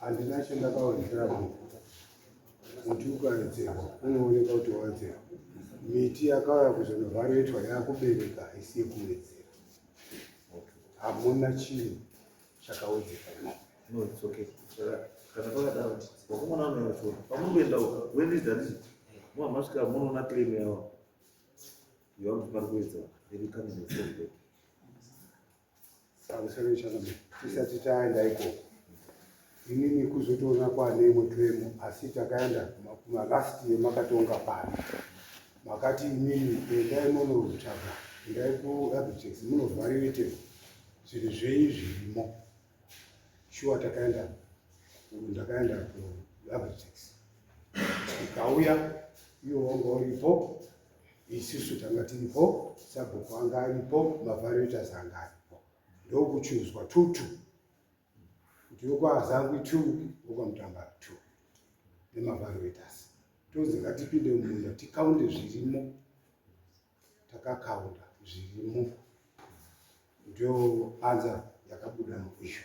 Handina chandakawedzera muti muti ukawedzera unooneka kuti wawedzera miti yakauya kuzonovharetwa yakubereka haisi yekuwedzera hamuna chinhu chakawedzeka no it's okay kana pakadaro wakomana anoyacho pamunoenda uka when is that muhamasvika munoona claim yavo yavakuti pari kuwedza iri kamene pamusoro ichanome tisati taenda ikoko inini kuzotoona kwane imwe twemo asi takaenda kumalast yemakatonga pano makati inini endai monotsvaga endai kuabitex munovharirite zvinhu zvei zvirimo shuwa takaenda ndakaenda kuabitex ikauya iwo wanga uripo isusu tanga tiripo sabhuku anga aripo mavarotas anga aripo ndokuchuzwa two two kuti wekwaazangwi two wekwamutambara two nemavarotas tonzi ngatipinde mumunda tikaunde zvirimo takakaunda zvirimo ndio anza yakabuda muisho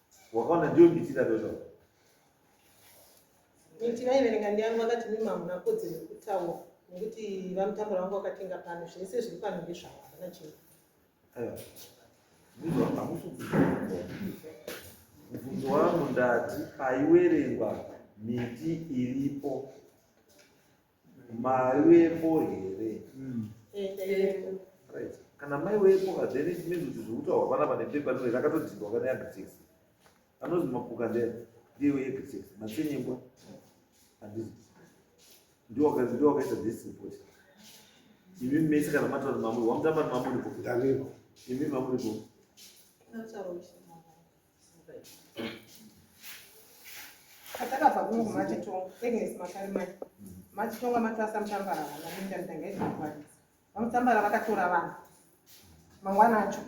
wakaona ndiyo mitira dozvo mitira iverenga ndiyangu vakati mimi hamuna kodzero yekutaura nekuti vamutakura vangu vakatenga pano zvese zviri pano ndezvavo havana chii mubvunzo wangu ndati paiwerengwa miti iripo Mari wepo here? Right. Kana mai wepo then it means kuti zvekutaurwa panapa nepepa rino rakatodhindwa kana yagritex. Anonzi mapuka ndere ndiwe yegritex matsenyengwa handizi ndiwo waka- ndiwo wakaita this report. Imi mese kana mataura mamuri wamutamba nemamuripo Danilo. imi mamuripo That's how we should. atakabva kungu matitonga agnes makarimai matitonga matasa mutambara vanaindandangaizvakwanisa vamutambara vakatora vanhu mangwana acho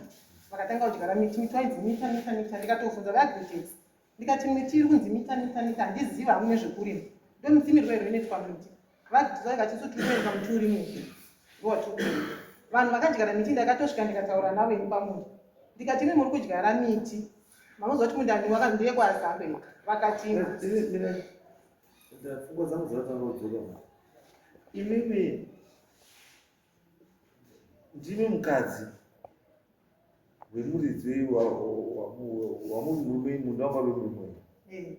vakatanga kudyara miti miti wainzi mita mita mita ndikatofunza vaagrites ndikati miti iri kunzi mita mita mita handiziva hamune zvekurima ndomitimirwa iro inoitwa miti Vadzai vatisu tikuenda muturi mupi votukuenda vanhu vakadyara miti ndakatosvika ndikataura navo ini pamunda ndikati imi muri kudyara miti manoziva kuti munda ndiwaka ndiye kwazambe vakati pfungwa dzangu dzakatanga kudzoka imimi ndimi mukadzi wemuridzi wamurume munda wanga wemurume eh.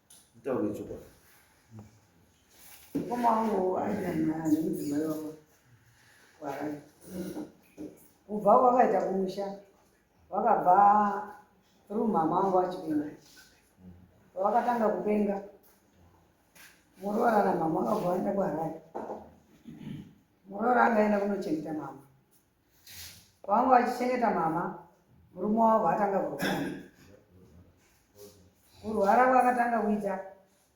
Nditaure chokwadi. Mukoma wangu aidana nemudzimai wavo kwarai. Kubva kwakaita kumusha vakabva through mama wangu achipenga. Vakatanga kupenga. Muroora namama vakabva vaenda kwarai. Muroora akaenda kunochengeta mama. kwanga vachichengeta mama murume wavo vaatanga kurwara kurwara kwakatanga kuita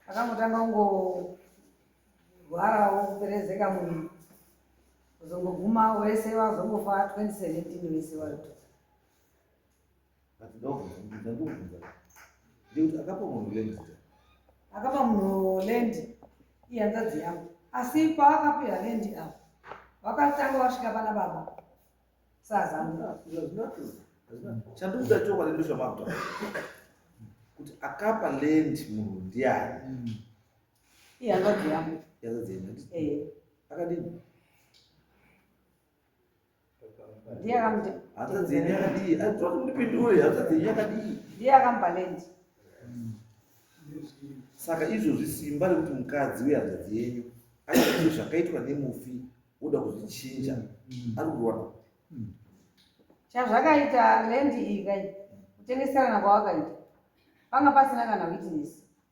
akangotanga kungorwarawo kuperezeka munhu kuzongoguma wese vazongofa 2017 wese varuto But ndobvunza, ndinza ndobvunza. Ndikuti akapa munhu land zita. Akapa munhu land ihanzvadzi yangu. Asi paakapira land apa. Vakatanga vasvika pana baba. Sazangu. Chanduza chokwa ndindosha makuta. Kuti akapa land munhu ndiani. Mm. Ihanzvadzi yangu. Ihanzvadzi yangu. Eh. Akadini? ndiye akamti hanzvadzi yenyu yakadii atwa kundipindure hanzvadzi yenyu yakadii ndiye akambalend saka izvozvi simba rekuti mukadzi uye hanzvadzi yenyu aite zvakaitwa nemufi oda kuzvichinja mm. ari kuona mm. chazvakaita lendi iyi kai kutengeserana kwawakaita panga pasina kana witness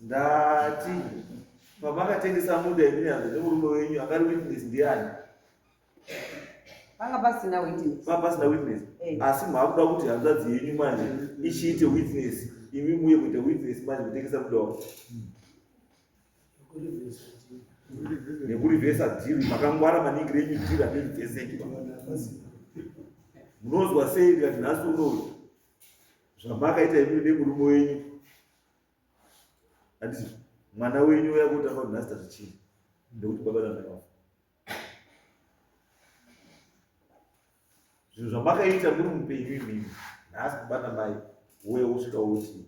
ndati pamakatengesa munda yeminyanza nemurume wenyu akari witness ndiani panga pasina witness panga pasina witness eh. asi mwakuda kuti hanzvadzi yenyu manje ichiite witness imi muye kuita witness manje kutengesa munda wako nekurivhesa dhiri makangwara maningi renyu dhiri anerivheseki munonzwa sei ndikati nhasi unou zvamakaita imini nemurume wenyu anditi mwana wenyu uya kuti afa nhasi tazvichii nekuti baba namaiwa zvinhu zvamakaita muri mupenyu imimi nhasi baba namai uye wosvika woti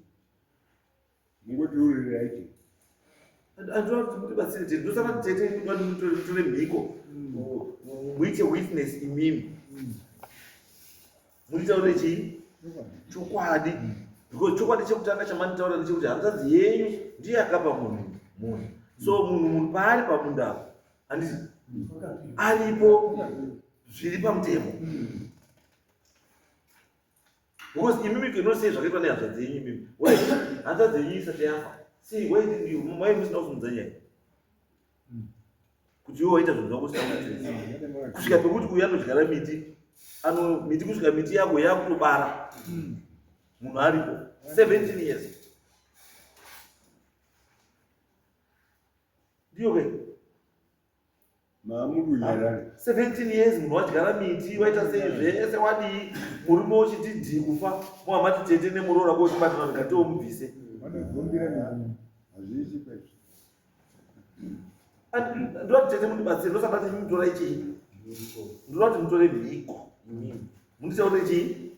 mungotiuririrai chii andiona kuti mutibatsire tete ndosaka tete ndotore mhiko muite witness imimi munitaure chii chokwadi because chokwadi chekutanga chamanitaura ndechekuti hanzadzi yenyu ndiye akapa munhu munhu so munhu munhu paari pamunda apo andii aripo zviri pamutemo Because imi you cannot say zvakaitwa nehasha dzenyu imi. Why? Hanza dzenyu isati yafa. See, why did you, why musina kuvhunza nyaya? Kuti iwe waita zvinhu zvako usina kuitisa. Kusvika pekuti uyu anodyara miti, ano miti kusvika miti yako yakutobara. Munhu aripo 17 years. Ndiyo ke? maamukunyarara 17 years munhu wadyara miti waita sei zvese wadii murume uchiti dhii kufa muhamati tete nemuroora kochibatana ndikatiwo mubvise vanogombira nani hazviiti kwezvo ndoda kuti tete mundibatsire ndosada kuti mutora ichii ndoda kuti mutore mhiko mundichaure chii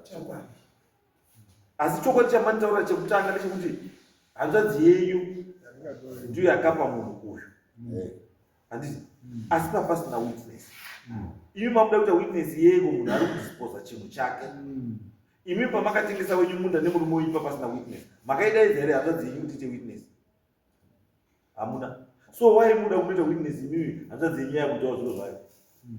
Chokwadi. asi chokwadi chamanitaura chekutanga ndechekuti hanzvadzi yenyu ndiyo yakapa munhu uyu handiti asi papasina witness mm. imi makuda kuita witness yeko munhu ari kudisposa chinhu chake mm. imi pamakatengesa wenyu munda nemurume wenyu papasina witness makaidaidza here hanzvadzi yenyu kuti ite witness hamuna so why muda kunoita witness imimi hanzvadzi yenyu yakuitawo zviro zvayo mm.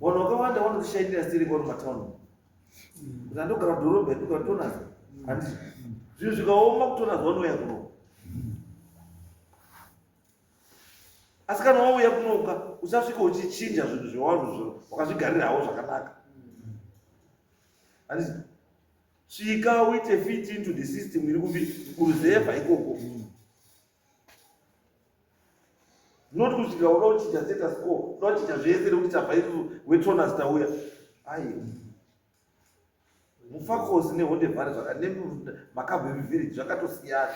Vanhu vakawanda vanozvishaidira siri kwari matauni. Kuti andogara dhorobha yekuti vatonaza. Handi. Zvinhu zvikaoma kutonaza vanouya kuno. Asi kana wauya kunoka usasvika uchichinja zvinhu zvewanhu zvino wakazvigarirawo zvakanaka. Handi. Svika uite fit into the system iri kubi kuruzevha ikoko. Mm. not kusvika uda kuchinja status quo uda kuchinja zvese nekuti tabva isu wetonas tauya ayi mufakosi nehonde vhari zvakanemakabwe mivhiriji zvakatosiyana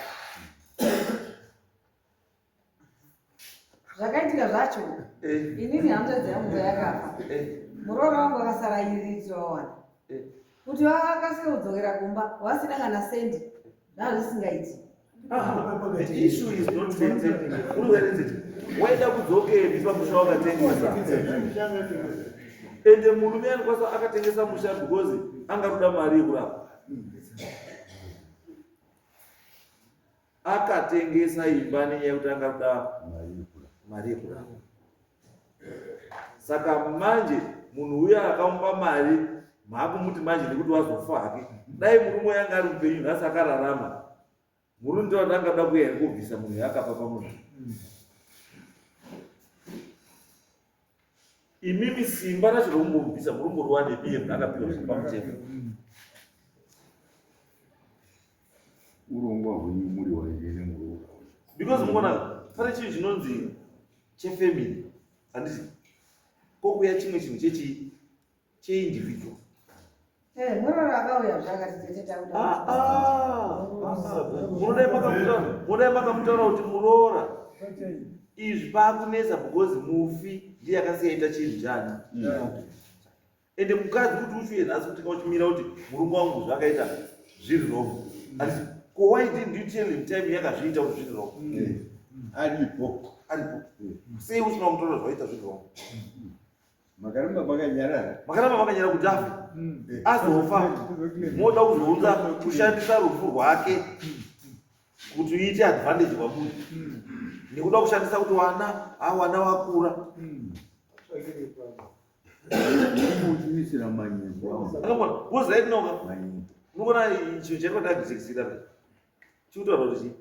zvakaitika zvacho eh. inini hanzvadzi yangu yakafa eh. muroora wangu akasara iridzwa wawana eh. kuti vakasike kudzokera kumba vasina kana sendi ndazvisingaiti waida kudzokeri pamusha wakatengesa ende murume anikwanisa akatengesa musha because anga kuda mari yekurapa akatengesa imba nenyaya yekuti anga kuda mari yekurapa saka manje munhu uya akamupa mari maakumuti manje nekuti wazofa hake dai murume yanga ari mupenyu nhasi akararama murume ndo atanga kuda kuya iri kubvisa munhu yaakapa pamunhu imimi simba racho rokumbomubvisa murume ruwanebiye munhu akapiwa zviri pamutemo urongwa hwenyu muri waine nemuroora because muona pane chinhu chinonzi chefamily handiti kokuya chimwe chinhu chechi cheindividual eh, munoda makamutaura kuti muroora izvi pakunetsa because mufi ndiye akasiyaita chinhu chani ende mukadzi kuti uchiuye nhasi kuti kauchimira kuti murume wangu zvakaita zviri wrong asi ko why didn't you tell him time yakazviita kuti zviri wrong aripo aripo sei usina kumutora zvaita zviri wrong makaramba vakanyarara makaramba vakanyarara kuti afe azofa moda kuzounza kushandisa rufu rwake kuti uite advantage kwamunhu nekuda kushandisa kuti wana awana wakura kuchimisira manyembo akabona bozi raitinoka unoona chinhu chaitwa ndakuzikisira pe chikutaura kuti chii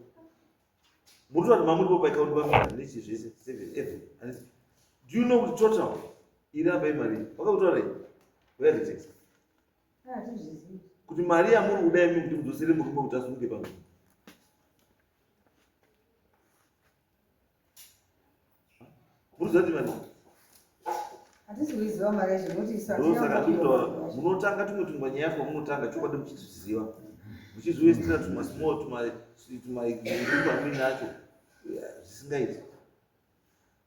muri vanhu mamuri po paikauri vamaichi zvese seven even hanisi do you know kuti total iri apa imari vakakutora rei vayazikisa kuti mari yamuri kuda imi kuti mudzosere murume kuti asunge pamwe munotanga tumwe tumwe nyaya kwamunotanga chokwadi muchitiziva muchiziwesitira tumwe small tumaamini acho zvisingaiti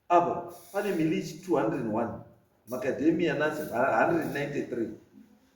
apa pane milichi 201 macademia nazi 193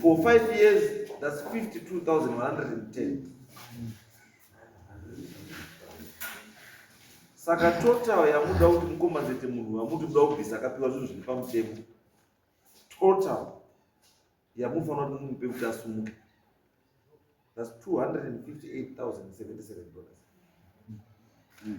for 5 years that's 52110 saka total yamuda kuti mukombazete munhu wamuti muda kubvisa akapiwa zvinhu zviri pamutemo total yamufanira kuti mumupe kuti asumuke that's 258077 dollars mm.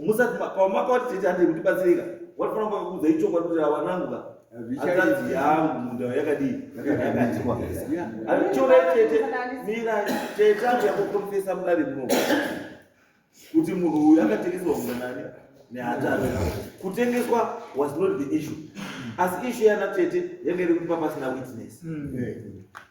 musati pamakauti tete handei kutibatsirika watofanira kunge kuudza ichokwadi kuti awanangu ka hanzanzi yangu munda yakadii yakadyiwa chona tete mira tete angu yakukonfesa mudare muno kuti munhu uyu akatengeserwa munda nani nehatari kutengeswa was not the issue asi issue yana tete yanga iri kuti papasina witness mm.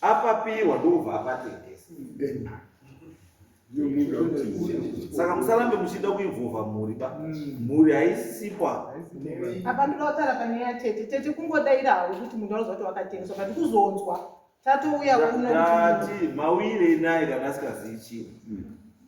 Apapiwa ndobva apatengesa. Saka musarambe muchida kuinvolva mhuri ba. Mhuri haisipa. apa ndoda kutaura pane ya tete tete kungodaira hawo kuti munhu anoziva kuti wakatengeswa but kuzonzwa tatouya kuno kuti- Ndati mawire naye kana asingazivi chinhu.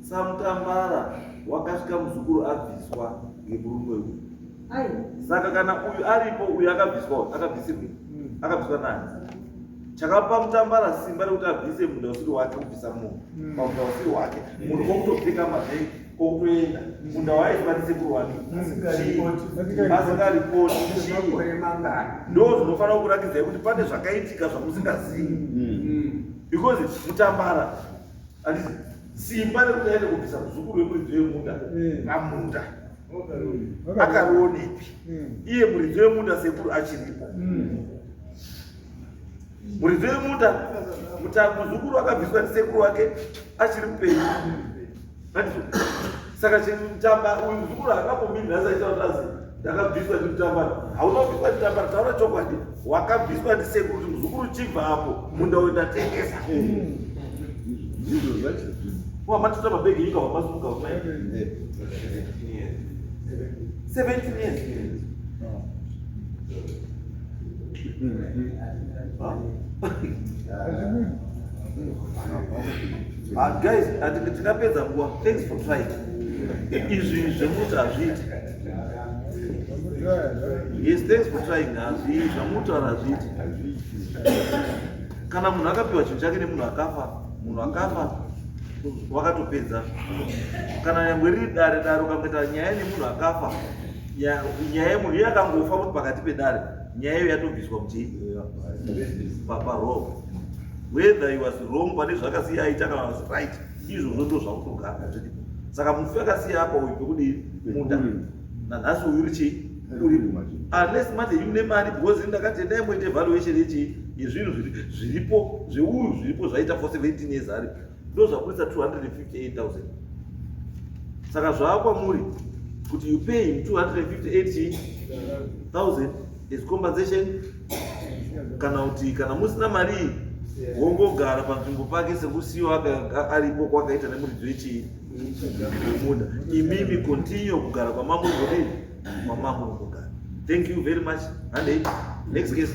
Samutambara wakasvika muzukuru abviswa ngemurume uyu. Saka kana uyu aripo uyu akabviswa akabvisirwe hmm. akabviswa nani? Chakapa mutambara simba rekuti abvise munda usiri wake kubvisa munhu hmm. pamunda usiri wake munhu kwokutopfeka mavhengi kwokutoenda hmm. munda waizwa ndisekuru wake asikaripoti ndo zvinofanira kurakidzai kuti pane zvakaitika zvamusingazivi because mutambara Andisi simba rekuti aende kubvisa muzukuru wemuridzi wemunda mm. pamunda akarionepi mm. iye muridzi wemunda sekuru achiripo mm. muridzi wemunda muzukuru akabviswa ndisekuru wake achiri mupenyu saka chimutamba uyu mzukuru akambomini nhasi aita kuti azi ndakabviswa ndimutambara hauna kubviswa ndimutambara taura chokwadi wakabviswa ndisekuru kuti mzukuru chibva apo munda uyo ndatengesa wamatotora mabhegi nyika wamasuka uma 17 years Huh? Ah, guys, ndinapedza nguva. Thanks for trying. Izvi zvemuti hazviiti. Yes, thanks for trying. Hazvi zvamutaura hazviiti. Kana munhu akapiwa chinhu chake nemunhu akafa, munhu akafa wakatopedza. Kana nyangwe riri dare dare ukamboita nyaya nemunhu akafa, nyaya yemunhu iye akangofa kuti pakati pedare, nyaya iyo yatobviswa kuti papa roho. whether he was wrong pane zvakasiya aita kana was right izvozvo ndo zvakutogara zvidi saka mufi akasiya apa uyu pekudii muda nanhasi uyu uri chii uri unless manje une mari because ini ndakati endai moita evaluation yechii yezvinhu zviripo zveuyu zviripo zvaita for 17 years ari ndo zvakuisa 258000 saka zvaakwamuri kuti you pay him 258000 Is compensation kana kuti kana musina mari wongogara panzvimbo pake sekusiyo aripo kwakaita nemuridzo yechii munda imimi continue kugara kwamambo ngodii kwamambo nogogara thank you very much handei next case